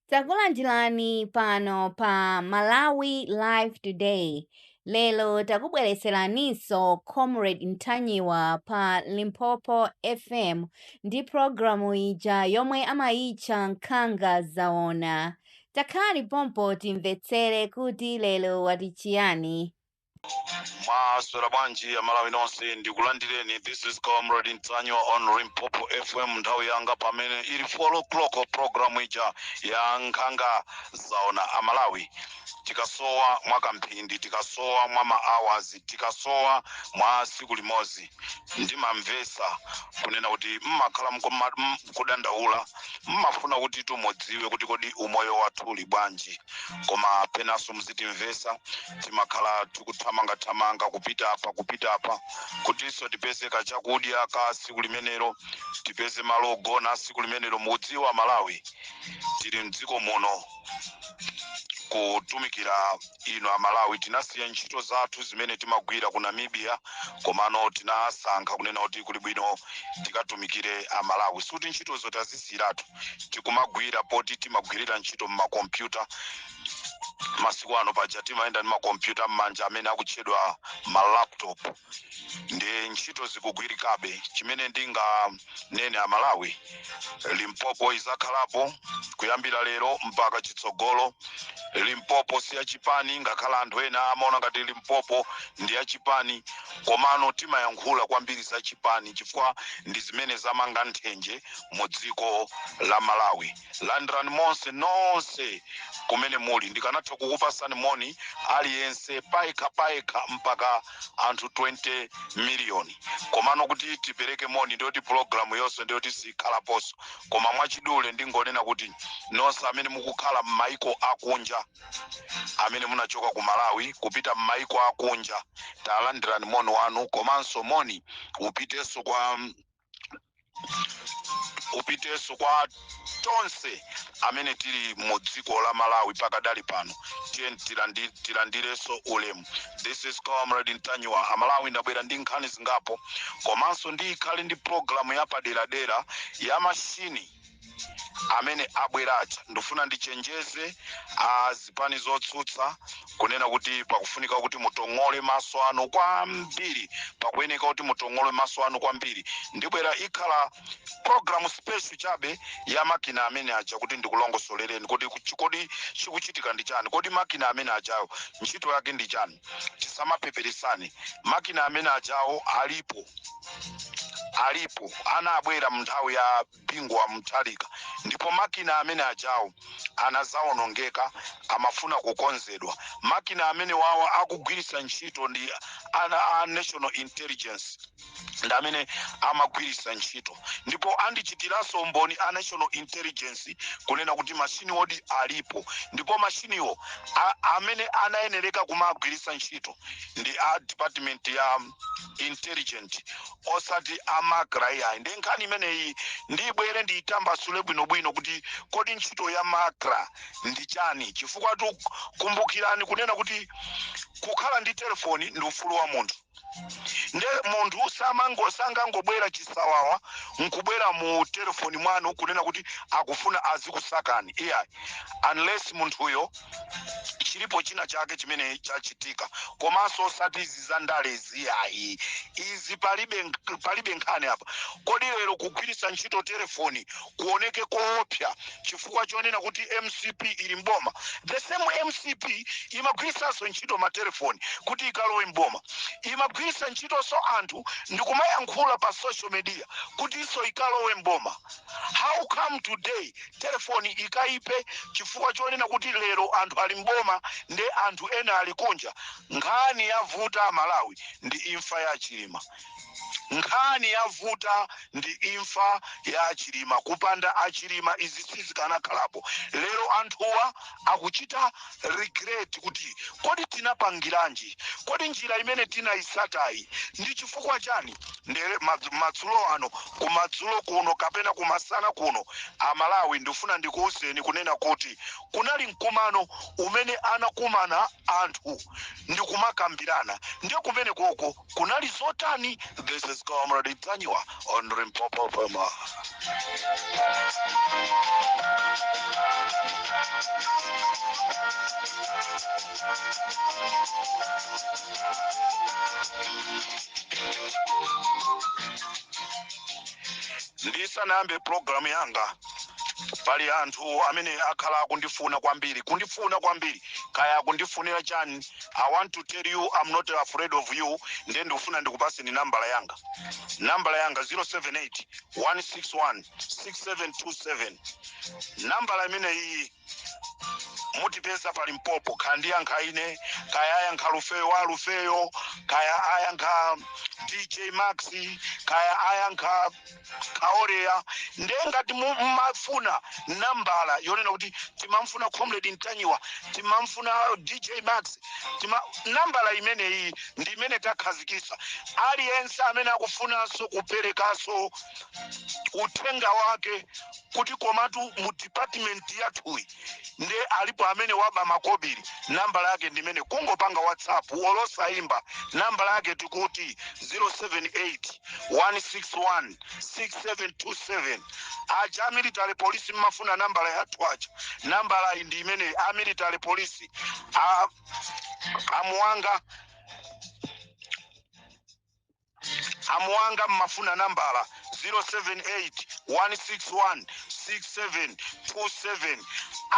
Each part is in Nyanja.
Takulandirani pano pa Malawi Live Today. Lero takubweretseraninso Comrade Ntanyiwa pa Limpopo FM ndi programu ija yomwe amayitcha Nkhanga Zaona. Takhalani pompo timvetsere kuti lero wati chiyani. mwaswera bwanji amalawi nonse ndikulandireni this is comrade ntanyiwa on limpopo fm nthawi yanga pamene ili 4 o'clock programu ija ya nkhanga zaona amalawi tikasowa mwa kamphindi tikasowa mwa maawazi tikasowa mwa siku limodzi ndimamvesa kunena kuti mmakhala mkoma- m- kudandaula mmafuna kuti timudziwe kuti kodi umoyo wathu uli bwanji koma penanso muzitimvesa timakhala tikuthamangathamanga kupita apa kupita apa kutinso tipeze kachakudya ka siku limenelo tipeze malo ogona siku limenelo mukudziwa amalawi tili mdziko muno kutumikira inu amalawi tinasiya ntchito zathu zimene timagwira ku namibia komano tinasankha kunena kuti kuli bwino tikatumikire amalawi sikuti ntchitozo tazisiyiratu tikumagwira poti timagwirira ntchito mmakompyuta masiku ano paja timayenda ndi makompyuta m'manja amene akutchedwa malaptop ndi ntchito zikugwirikabe chimene ndinganene amalawi limpopo izakhalapo kuyambira lero mpaka chitsogolo limpopo si yachipani ngakhale anthu ena amaona ngati limpopo ndi yachipani komano timayankhula kwambiri za chipani chifukwa ndi zimene zamanga nthenje mu dziko la malawi landirani monse nonse kumene muli ndikanatha kukupasani moni aliyense payekha payekha mpaka anthu 20 miliyoni komano kuti tipereke moni ndiyoti programu yonse ndiyoti sikhalaponso koma mwachidule ndingonena kuti nonse amene mukukhala m'maiko akunja amene munachoka ku malawi kupita m'maiko akunja talandirani moni wanu komanso moni upitenso kwa upitenso kwa tonse amene tili mu dziko la malawi pakadali pano tiye tilandi- tilandirenso ulemu this is comrade ntanyiwa amalawi ndabwera ndi nkhani zingapo komanso ndikhale ndi programu yapaderadera ya mashini amene abwera aja ndifuna ndichenjeze a zipani zotsutsa kunena kuti pakufunika kuti mutong'ole maso anu kwambiri pakuyeneka kuti mutong'ole maso anu kwambiri ndibwera ikhala programu special chabe ya makina amene aja kuti ndikulongosolereni kuti kuchi- kodi chikuchitika ndi chani kodi makina amene ajawo ntchito yake ndi chani tisamapeperesane makina amene ajawo alipo alipo anabwera munthawi ya bingu wa mutharika ndipo makina amene ajawo anazawonongeka amafuna kukonzedwa makina amene wawa akugwiritsa ntchito ndi a national intelligence ndi amene amagwiritsa ntchito ndipo andichitiranso umboni a national intelligence kunena kuti mashiniwodi alipo ndipo mashiniwo a- amene anayenereka kumagwiritsa ntchito ndi a department ya intelligence osati a macra iyayi ndi nkhani imeneyi ndibwere ndiyitambasule bwinobwino kuti kodi ntchito ya macra ndi chani chifukwatu kumbukirani kunena kuti kukhala ndi telefoni ndi ufulu wa munthu nde munthu samango sangangobwera chisawawa nkubwera mu telefoni mwanu kunena kuti akufuna azikusakani iyayi unless munthuyo chilipo china chake chimene chachitika komanso osati izi za ndalezi iyayi izi palibe nk- palibe nkhani apa kodi lero kugwiritsa ntchito telefoni kuoneke koopsa chifukwa chonena kuti mcp ili mboma the same mcp imagwiritsanso ntchito matelefoni kuti ikalowe mboma imagwiritsa ntchitonso anthu ndikumayankhula pa social media kutinso ikalowe mboma how come today telefoni ikaipe chifukwa chonena kuti lero anthu ali mboma nde anthu ena ali kunja nkhani yavuta mmalawi ndi imfa ya chilima Nkhani yavuta ndi imfa ya achilima kupanda achilima izi sizikanakhalapo lero anthuwa akuchita regret kuti kodi tinapangiranji kodi njira imene tinaitsatayi ndi chifukwa chani nde madzulo ano kumadzulo kuno kapena kumasana kuno amalawi ndifuna ndikuuzeni kunena kuti kunali mkumano umene anakumana anthu ndikumakambirana ndiye kumenekoko kunali zotani this is comrade ntanyiwa on limpopo fm ndisanayambe programu yanga pali anthu amene akhala akundifuna kwambiri kundifuna kwambiri kaya akundifunira chani i want to tell you i'm not afraid of you nde ndikufuna ndikupaseni nambala yanga nambala yanga 078 161 6727 nambala imeneyi mutipeza pa limpopo kaya ndiyankha ine kaya ayankha lufeyo wa lufeyo kaya ayankha dj max kaya ayankha Kaoreya nde ngati mumafuna nambala yonena kuti timamfuna comrade ntanyiwa timamfuna dj max nambala imeneyi ndi imene takhazikisa aliyense amene akufunanso kuperekanso uthenga wake kuti komatu mu department yathuyi nde alipo amene waba makobiri nambala yake ndimene kungopanga whatsapp olosayimba nambala yake tikuti 078 161 6727 aja a military police mmafuna nambala yathu aja nambala iyi ndi imene a military police a Muwanga A Muwanga mmafuna nambala 0781616727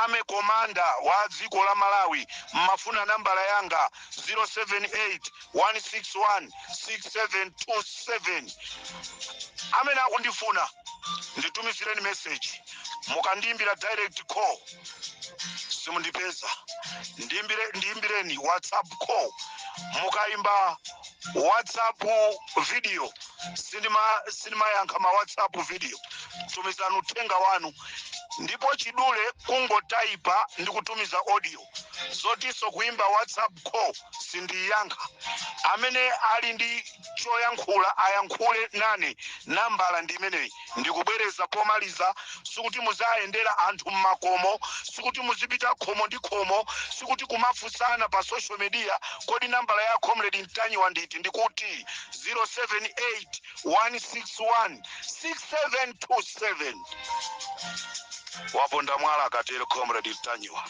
army commander wa dziko la Malawi mmafuna nambala yanga 0781616727 amene akundifuna nditumizireni message mukandiimbira direct call simundipeza ndiimbireni whatsapp call mukaimba whatsapp video sindimayankha ma whatsapp video tumizani uthenga wanu ndipo chidule kungotaipa ndi kutumiza audio zotinso kuimba whatsapp call sindiyankha amene ali ndi choyankhula ayankhule nane nambala ndi imeneyi Ndikubwereza pomaliza, sikuti muzayendera anthu mmakomo, sikuti muzipita khomo ndi khomo, sikuti kumafunsana pa social media, kodi nambala ya Comrade Ntanyiwa ndi iti? Ndikuti 078 161 6727. Waponda mwala akatero Comrade Ntanyiwa.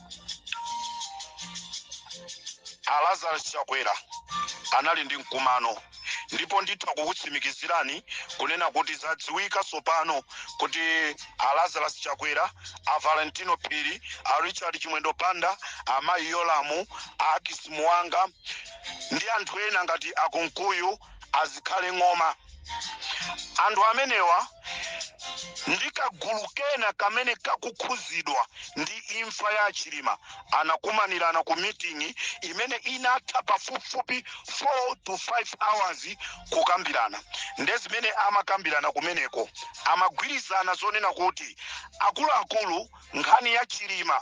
a lazarus chakwera anali ndi mkumano ndipo nditha kukutsimikizirani kunena kuti zadziwika tsopano kuti a lazarus chakwera a valentino phiri a richard chimwendo banda amayi yolamu a akis muwanga ndi anthu ena ngati a kunkuyu a zikhale ng'oma anthu amenewa ndi kagulu kena kamene kakukhuzidwa ndi imfa ya chilima anakumanirana ku meeting imene inatha pafupifupi 4 to 5 hours kukambirana nde zimene amakambirana kumeneko amagwirizana zonena kuti akuluakulu nkhani ya chilima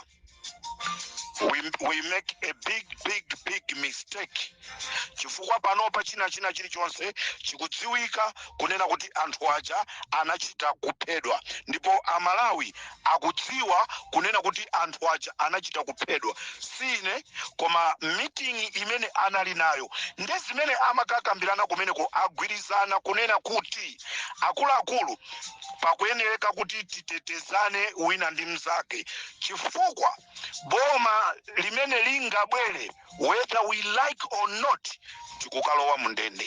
we, we make a big big big mistake chifukwa panopa china china chilichonse chikudziwika kunena kuti anthu aja anachita kuphedwa ndipo amalawi akudziwa kunena kuti anthu aja anachita kuphedwa si ine koma mitingi imene anali nayo ndi zimene amakakambirana kumeneko agwirizana kunena kuti akuluakulu pakuyenereka kuti titetezane wina ndi mnzake chifukwa boma limene lingabwere whether we like or not tikukalowa mu ndende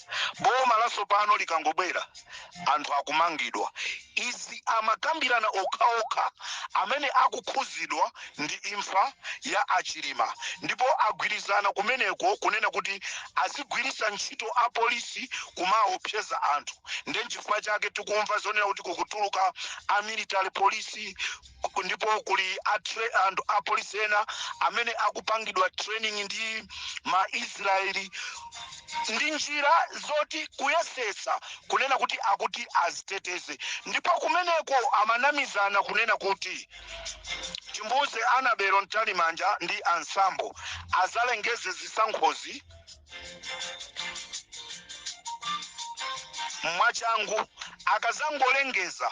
boma lasopano likangobwera anthu akumangidwa izi amakambirana okhaokha amene akukhuzidwa ndi imfa ya achilima ndipo agwirizana kumeneko kunena kuti azigwiritsa ntchito apolisi kumaopseza anthu ndenchifukwa chake tikumva zonena kuti kukutuluka amilitary polisi ku- ndipo kuli atre, anthu apolisi ena amene akupangidwa training ndi maisraeli ndi njira zoti kuyesetsa kunena kuti akuti aziteteze ndipo kumeneko amanamizana kunena kuti timuuze Annabel Mtalimanja ndi a Msabwe azalengeze zisankhozi mwachangu akazangolengeza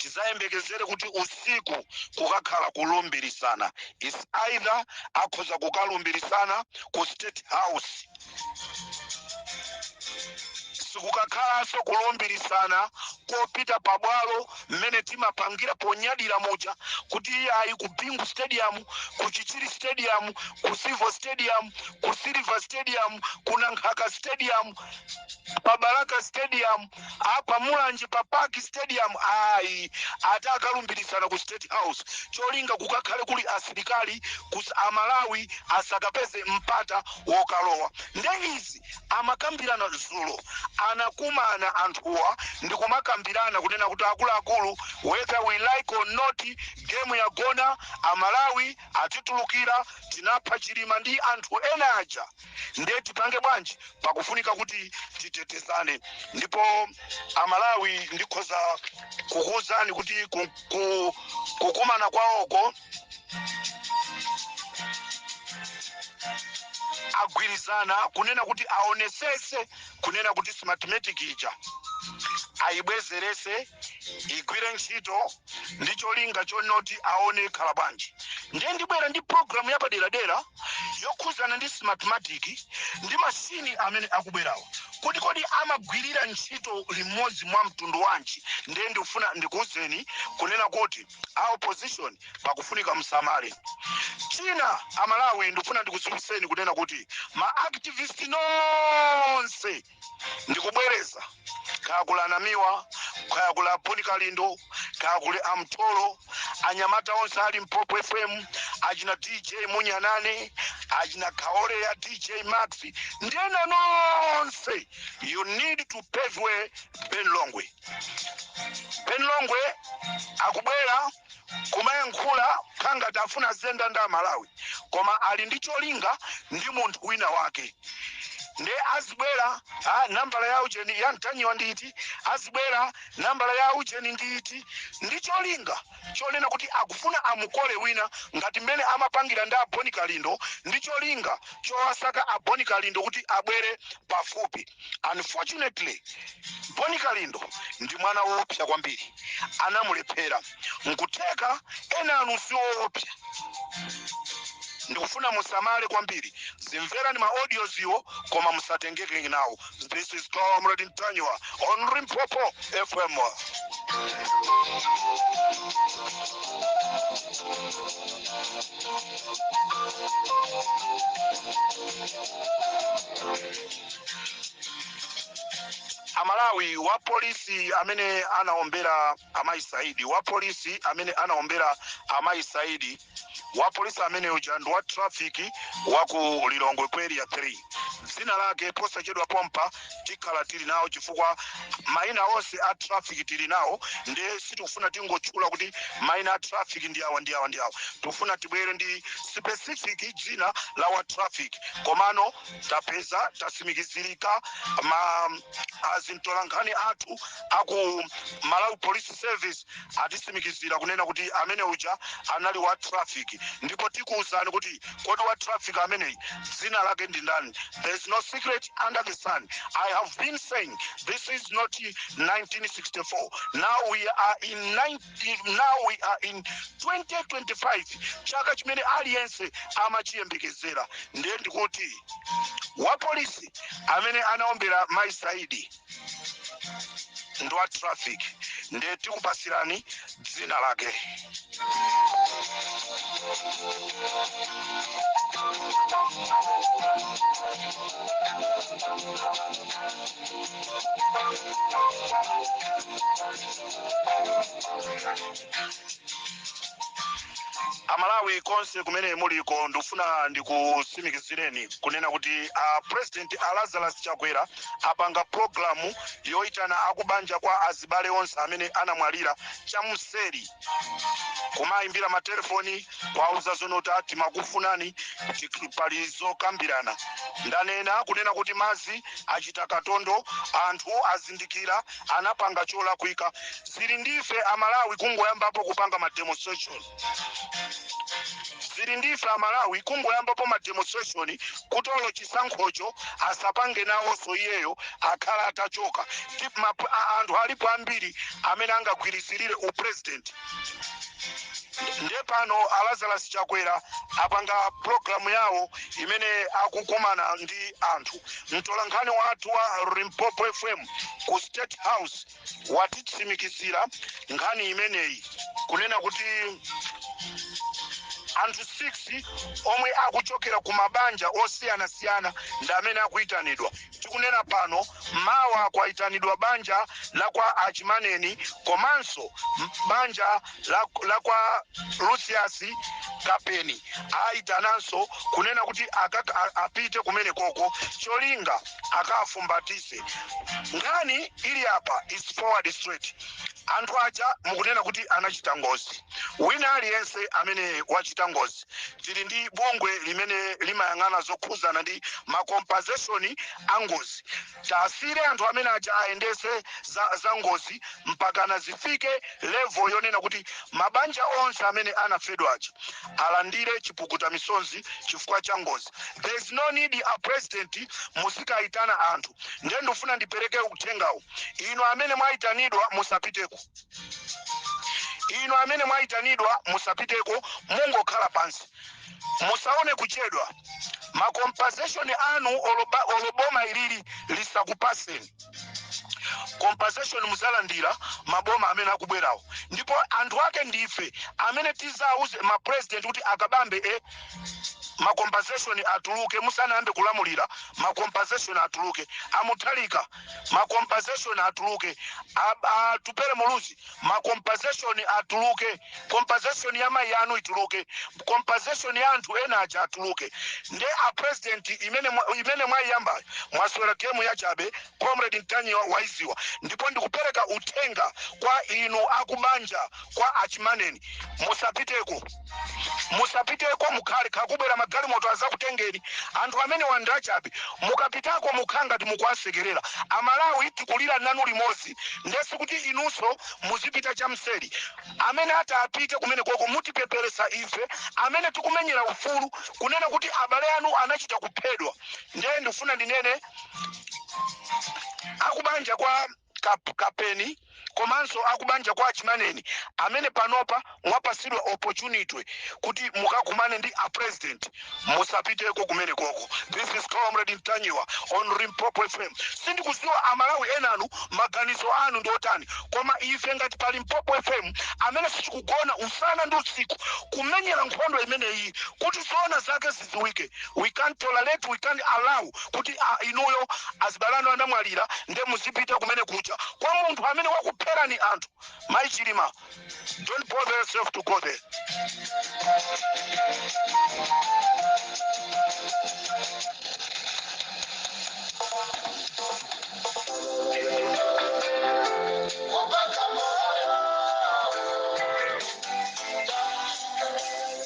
tizayembekezere kuti usiku kukakhala kulumbirisana is either akhoza kukalumbirisana ku state house sikukakhalanso kulumbirisana kopita pabwalo mmene timapangira ponyadira muja kuti iye ayi ku bingu stadium ku chichiri stadium ku civo stadium ku silver stadium ku nankhaka stadium pabalaka stadium Apa Mulanje pa Park Stadium ayi atakalumbiritsana ku State House cholinga kukakhale kuli asilikali kus a Malawi asakapeze mpata wokalowa nde izi amakambirana zulo anakumana anthuwa ndikumakambirana kunena kuti akuluakulu whether we like or not game yagona a Malawi atitulukira tinapha Chilima ndi anthu ena aja nde tipange bwanji pakufunika kuti titetezane ndipo amalawi ndikhoza kukuwuzani kuti ku- ku- kukumana kwawoko agwirizana kunena kuti aonesese kunena kuti smartmatic ija ayibwezerese igwire ntchito ndi cholinga chonoti aone zikhala bwanji ndiye ndibwera ndi programu yapaderadera yokhudzana ndi Smartmatic ndi machine amene akubwerawa kuti kodi amagwirira ntchito limodzi mwa mtundu wanji ndiye ndikufuna ndikuwuzeni kunena kuti a opposition pakufunika msamale china amalawi ndikufuna ndikudziwitseni kunena kuti ma activist nonse ndikubwereza kaya kuli anamiwa kaya kuli a Bon Kalindo kaya kuli a Mtolo anyamata onse ali Limpopo FM achina dj Munyanyane achina kaole ya dj max ndi ena nonse you need to pave way ben longwe ben longwe akubwera kumayankhula kukhala ngati afuna zenda nda Malawi koma ali ndi cholinga ndi munthu wina wake nde azibwera nambala ya ujeni ya Ntanyiwa ndi iti azibwera nambala ya ujeni ndi iti ndi cholinga chonena kuti akufuna amukole wina ngati mmene amapangira ndi a Bon Kalindo ndi cholinga chowasaka a Bon Kalindo kuti abwere pafupi unfortunately Bon Kalindo ndi mwana woopsa kwambiri anamulephera nkutheka ena anu si oopsa ndikufuna musamale kwambiri zimvereni ma audioziwo koma musatengeke nawo this is comrade Ntanyiwa on Limpopo FM amalawi wa polisi amene anaombera amayi saidi wa polisi amene anaombera amayi saidi wa polisi amene uja ndi wa trafiki wa ku lilongwe ku area 3 dzina lake posachedwa pompa tikhala tili nawo chifukwa maina onse a traffic tili nawo ndiye sitikufuna tingotchula kuti maina a traffic ndi awa ndi awa ndi awa tikufuna tibwere ndi specific dzina la wa traffic komano tapeza tatsimikizirika ma zintolankhani athu aku malawi police service atitsimikizira kunena kuti amene uja anali wa traffic ndipo tikuwuzani kuti kodi wa traffic ameneyi dzina lake ndi ndani there is no secret under the sun i have been saying this is not 1964 now we are in 19 if now we are in 2025 chaka chimene aliyense amachiyembekezera nde ndikuti wapolisi amene anaombera mai saidi ndi wa traffic ndiye tikupasirani dzina lake amalawi konse kumene muliko ndikufuna ndikusimikizireni kunena kuti a president a lazarus chakwera apanga programu yoyitana akubanja kwa azibale onse amene anamwalira chamseri kumayimbira matelefoni kwauza zonota timakufunani ti- pali zokambirana ndanena kunena kuti mazi achita katondo anthu azindikira anapanga cholakwika zili ndife amalawi kungoyambapo kupanga ma demonstration zili ndife amalawi kungoyambapo ma demonstration kuti olo chisankhocho asapange nawonso iyeyo akhale atachoka Tip map- a- anthu alipo ambiri amene angagwirizirire upresident ndiye pano alazarus chakwera apanga programu yawo imene akukumana ndi anthu mtolankhani wathu wa limpopo fm ku state house watitsimikizira nkhani imeneyi kunena kuti anthu 6 omwe akuchokera ku mabanja osiyanasiyana ndi amene akuyitanidwa tikunena pano mawa kwayitanidwa banja la kwa achimaneni komanso banja la, la kwa Lucius Kapeni ayitananso kunena kuti akak- a- apite kumene koko cholinga akafumbatise nkhani ili apa is forward straight anthu aja mukunena kuti anachita ngozi wina aliyense amene wachita ngozi tili ndi bungwe limene limayang'ana zokhuzana ndi ma compensation a ngozi Tasiyire anthu amene aja ayendetse za za ngozi mpakana zifike level yonena kuti mabanja onse amene anafedwa aja alandire chipukuta misonzi chifukwa cha ngozi. There is no need a president muzikaitana anthu. Ndiye ndifuna ndipereke uthengawu. Inu amene mwaitanidwa musapiteko. Inu amene mwaitanidwa musapiteko mungokhala pansi. musaone kuchedwa ma compensation anu olo ba- olo boma ilili lisakupaseni compensation muzalandira maboma amene akubwerawo ndipo anthu ake ndife amene tizauze ma president kuti akabambe e ma compensation atuluke musanayambe kulamulira ma compensation atuluke a mutharika ma compensation atuluke A- atupele muluzi ma compensation atuluke compensation ya mayi anu ituluke compensation ya anthu ena aja atuluke nde a president imene mwa- imene mwayiyambayo mwasewera game ya chabe comrade mtanyi wa- waiziwa ndipo ndikupereka uthenga kwa inu akubanja kwa achimaneni musapiteko musapiteko mukhale nkhakubwera magalimoto azakutengeni anthu amenewa ndachabe mukapitako mukhala ngati mukuwasekerera amalawi tikulira nanu limodzi nde sikuti inunso muzipita chamseri amene ati apite kumeneko ko mutipeperesa ife amene tikumenyera ufulu kunena kuti abale anu anachita kuphedwa ndiye ndifuna ndinene akubanja kwa Kap, kapeni komanso akubanja kwa achimaneni amene panopa mwapasidwa opportunity kuti mukakumane ndi a president musapiteko kumeneko ko this is comrade ntanyiwa on limpopo fm sindikuziwa amalawi enanu maganizo anu ndi otani koma ife ngati pa limpopo fm amene sitikugona usana ndi usiku kumenyera nkhondo imeneyi kuti zoona zake zi zidziwike we can't tolerate we can't allow kuti ah, inuyo azibale anu anamwalira nde muzipita kumene kuja kwa munthu amene wakupherani anthu mayi chilima don't bother yourself to go there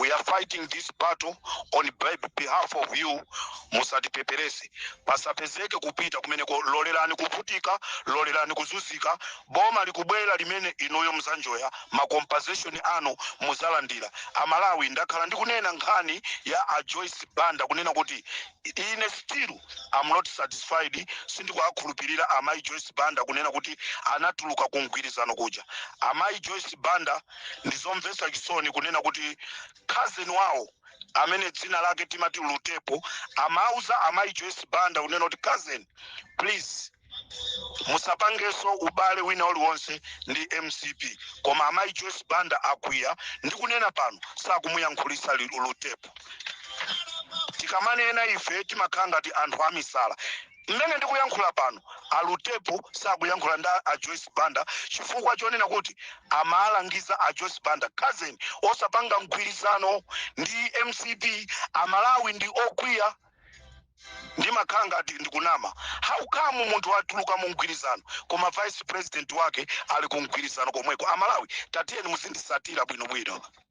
we are fighting this battle on be- behalf of you musatipeperese pasapezeke kupita kumeneko lolerani kuvutika lolerani kuzunzika boma likubwera limene inuyo muzanjoya macompensation anu muzalandira amalawi ndakhala ndikunena nkhani ya a joyce banda kunena kuti ine still i'm not satisfied sindikuwakhulupirira amayi joyce banda kunena kuti anatuluka ku mgwirizano kuja amayi joyce banda ndi zomvetsa chisoni kunena kuti cousin wawo amene dzina lake timati lutepo amawauza amayi joyce banda kunena kuti cousin please musapangenso ubale wina uliwonse ndi mcp koma amayi joyce banda akwiya ndi kunena pano sakumuyankhulisa li- lutepo tikamanena ife timakhala ngati anthu amisala Mmene ndikuyankhula pano, a Lutepo sakuyankhula ndi a Joyce Banda chifukwa chonena kuti amawalangiza a Joyce Banda, cousin, osapanga mgwirizano ndi mcp. Amalawi ndi okwiya. Ndimakhala ngati ndikunama. How come munthu watuluka mu mgwirizano koma vice president wake ali ku mgwirizano komweko? Amalawi tatiyeni muzindisatira bwinobwino.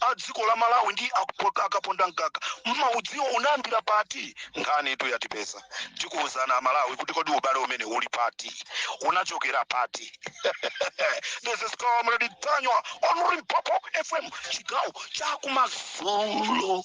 a dziko la malawi ndi a Kapo- a Kaponda Mkaka mmaudziwa unayambira pati nkhanitu yatipeza tikuwuzana Amalawi kuti kodi ubale umene uli pati unachokera pati this is Comrade Mtanyiwa on Limpopo FM chigawo chakumadzulo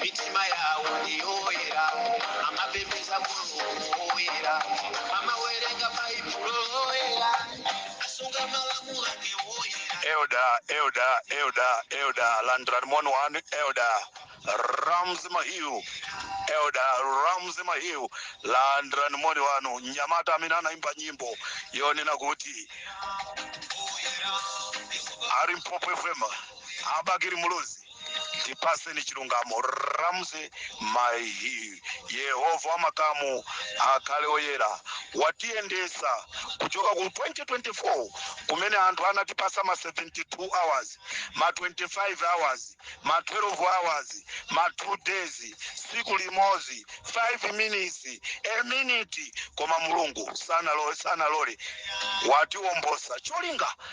mitima yawo ndi yoyera amapembedza Mulungu woyera amawerenga baibulo loyera amasunga malamulo ake woyera Elder Elder Elder Elder landirani moni wanu Elder Ramsey Mahiyu Elder Ramsey Mahiyu landirani moni wanu mnyamata amene anaimba nyimbo yonena kuti a Limpopo FM a Bakili Muluzi tipatseni chilungamo Ramsey Mahiyu Yehova wa makamu akhale oyera watiyendetsa kuchoka ku 2024 kumene anthu anatipatsa ma 72 hours ma 25 hours ma 12 hours ma 2 days tsiku limodzi 5 minutes a minute koma Mulungu sanalole sanalole watiwolotsa cholinga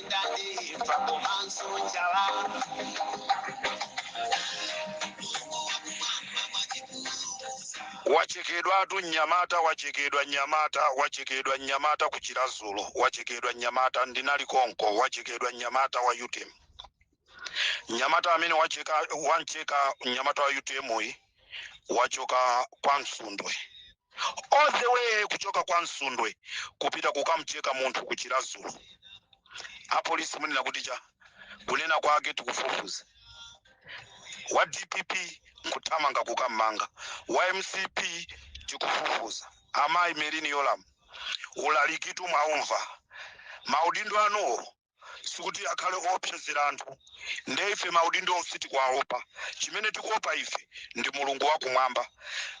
matenda ndi imfa komanso njala wachekedwatu mnyamata wachekedwa mnyamata wachekedwa mnyamata ku Chiradzulu wachekedwa mnyamata ndinali konko wachekedwa mnyamata wa UTM mnyamata amene wacheka wamcheka mnyamata wa UTM uyu wachoka kwa Msundwe all the way kuchoka kwa Msundwe kupita kukamcheka munthu ku Chiradzulu apolisi munena kuti cha kunena kwake tikufufuza wa DPP nkuthamanga kukammanga wa MCP tikufufuza amayi Merlyne Yolamu ulalikitu mwaumva maudindo anuwo sikuti akhale oopsezera anthu nde ife maudindowo sitikuwaopa chimene tikuopa ife ndi Mulungu wakumwamba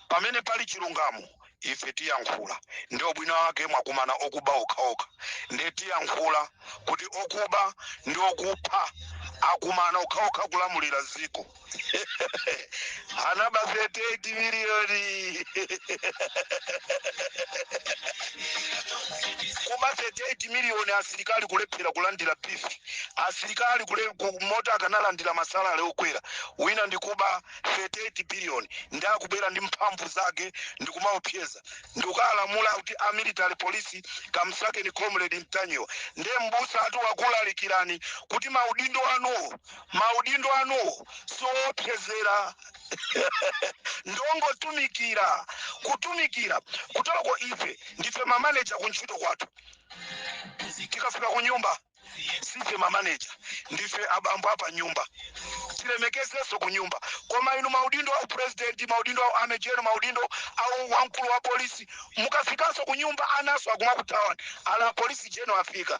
pamene pali chilungamo ife tiyankhula ndi ubwino wake mwakumana okuba okhaokha nde tiyankhula kuti okuba ndi okupha akumana okhaokha kulamulira dziko anaba 38 miliyoni kuba 38 miliyoni asilikali kulephera kulandira beef asilikali kumati akanalandira masalale okwera wina nkuba 38 biliyoni nde akubwera ndi mphamvu zake ndi kumaopseza ndi kukalamula kuti a military police kamsakeni Comrade Mtanyiwa ndiye abusatu wakulalikirani kuti maudindo anuwo Maudindo anuwo si owopsezera. Ndi ongotumikira. Kutumikira kuteroko,, ife ndife mamaneja ku ntchito kwathu. Tikafika kunyumba, siife mamaneja, ndife abambo apanyumba. Tilemekezenso kunyumba. Koma inu maudindo a upulezidenti, maudindo a u army general, maudindo a u wamkulu wa polisi, mukafikanso kunyumba, ananso akumakuthawani. Ala, apolisi jenerali afika!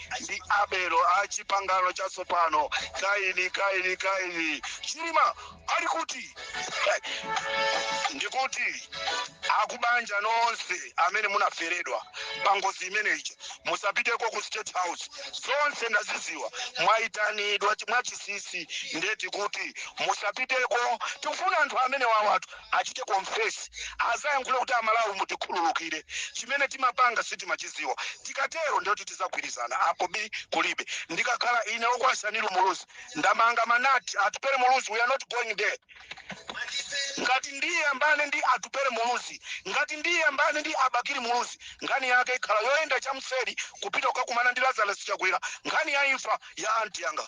ndi Abelo a chipangano chatsopano. Kaini, Kaini, Kaini, Chilima ali kuti? Ndikuti akubanja nonse amene munaferedwa pa ngozi imene ija musapiteko ku State House, zonse ndaziziwa mwayitanidwa mwachisisi, nde tikuti musapiteko. Tikufuna anthu amene wawatu achite confess azayankhule kuti amalawi mutikhululukire chimene timapanga, sitimachiziwa tikatero ndiyoti tizagwirizana apo bi kulibe ndikakhala ine Okwasanili muluzi ndamanga manja, atupere muluzi we are not going there ngati ndiye ambane ndi atupere muluzi ngati ndiye ambane ndi a bakili muluzi nkhani yake ikhala yoyenda chamseri kupita kukakumana ndi lazarus chakwera nkhani ya imfa ya anti yanga